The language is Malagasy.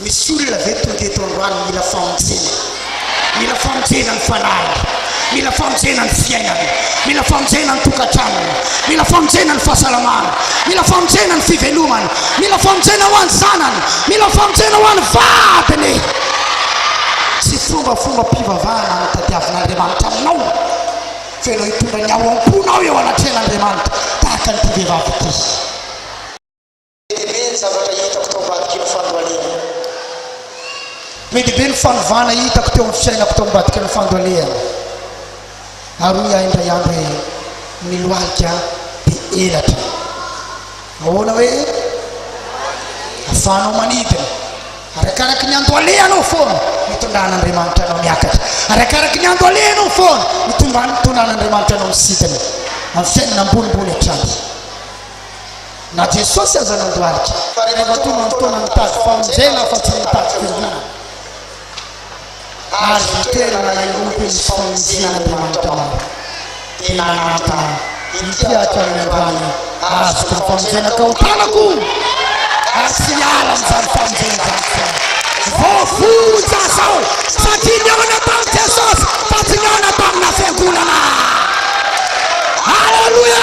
Misy olona ve tonga eto androany mila famonjena? Mila famonjena ny fanahiny, mila famonjena ny fiainany, mila famonjena ny tokantranony, mila famonjena ny fahasalamany, mila famonjena ny fivelomany, mila famonjena ho an'ny zanany, mila famonjena ho an'ny vadiny. Tsy fombafombam-pivavahana no tadiavin'Andriamanitra aminao, fa ianao hitondra ny ao am-ponao eo anatrehan'Andriamanitra tahaka an'ity vehivavy ity. Be dia be ny zavatra hitako tao ambadik'iny fandoale iny. Be dia be ny fanovana hitako teo amin'ny fiainako tao ambadiky ny fandoaleana. Ary hoy ahy indray andro hoe, Ny lohalika dia elatra. Ahoana hoe? Ahafahanao manidina. Arakaraky ny andoaleanao foana no itondran'Andriamanitra anao miakatra. Arakaraky ny andoaleanao foana no itondran'Andriamanitra anao misidina amin'ny fiainana ambonimbony hatrany. Na Jesosy aza nandohalika. Fa rehefa tonga ny fotoana mitady famonjena fa tsy mitady fiombonana, azo itoerana heloka izy famonjena an'Andriamanitra maro, dia nananta ahy, Inty ato any ambany azoko ny famonjena ka otanako ary tsy hiala amin'izany famonjena izany foana. Voavonjy aho satria nihaona tamin'i Jesosy fa tsy nihaona tamina fiangonana. Aleloia!